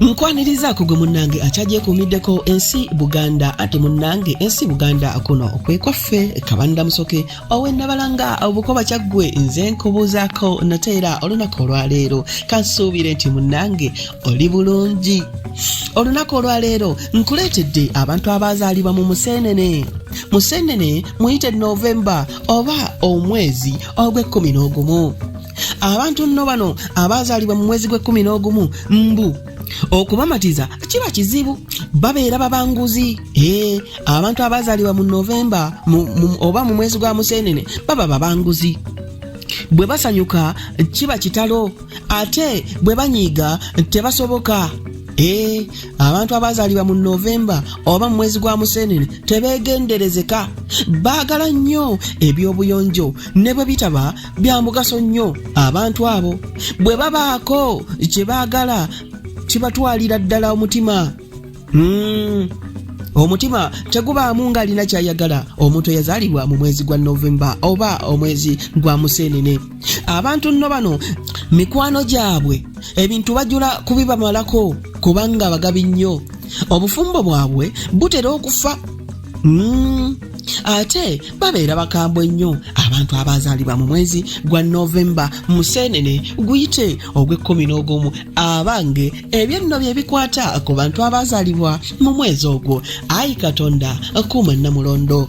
nkwanirizaako gwe munnange akyagyekuumiddeko ensi buganda ati munnange ensi buganda kuno kwekwaffe kabanira musoke owenabalanga obukoba kyaggwe nze nkubuuzaako nate era olunaku olwaleero kansuubire nti munnange oli bulungi olunaku olwaleero nkuleetedde abantu abaazaalibwa mu museenene museenene muyite novemba oba omwezi ogw'ekkumi n'ogumu abantu nno bano abaazaalibwa mu mwezi gw'ekkumi n'ogumu mbu okubamatiza kiba kizibu babeera babanguzi ee eh, abantu abaazaalibwa mu novemba oba mu mwezi gwa museenene baba babanguzi bwe basanyuka kiba kitalo ate bwe banyiiga tebasoboka ee eh, abantu abaazaalibwa mu novemba oba mu mwezi gwa museenene tebeegenderezeka baagala nnyo eby'obuyonjo ne bwe bitaba bya mugaso nnyo abantu abo bwe babaako kye baagala kibatwalira ddala omutima hmm. omutima tegubaamu ng'alina ky'ayagala omuntu eyazaalibwa mu mwezi gwa novemba oba omwezi gwa museenene abantu nno bano mikwano gyabwe ebintu bajula kubibamalako kubanga bagabi nnyo obufumbo bwabwe butera okufa hmm. ate babeera bakambwe nnyo abantu abazaalibwa mu mwezi gwa novemba museenene guyite ogw'ekkumi n'ogumu abange ebyenno bye bikwata ku bantu abazaalibwa mu mwezi ogwo ayi katonda kuuma namulondo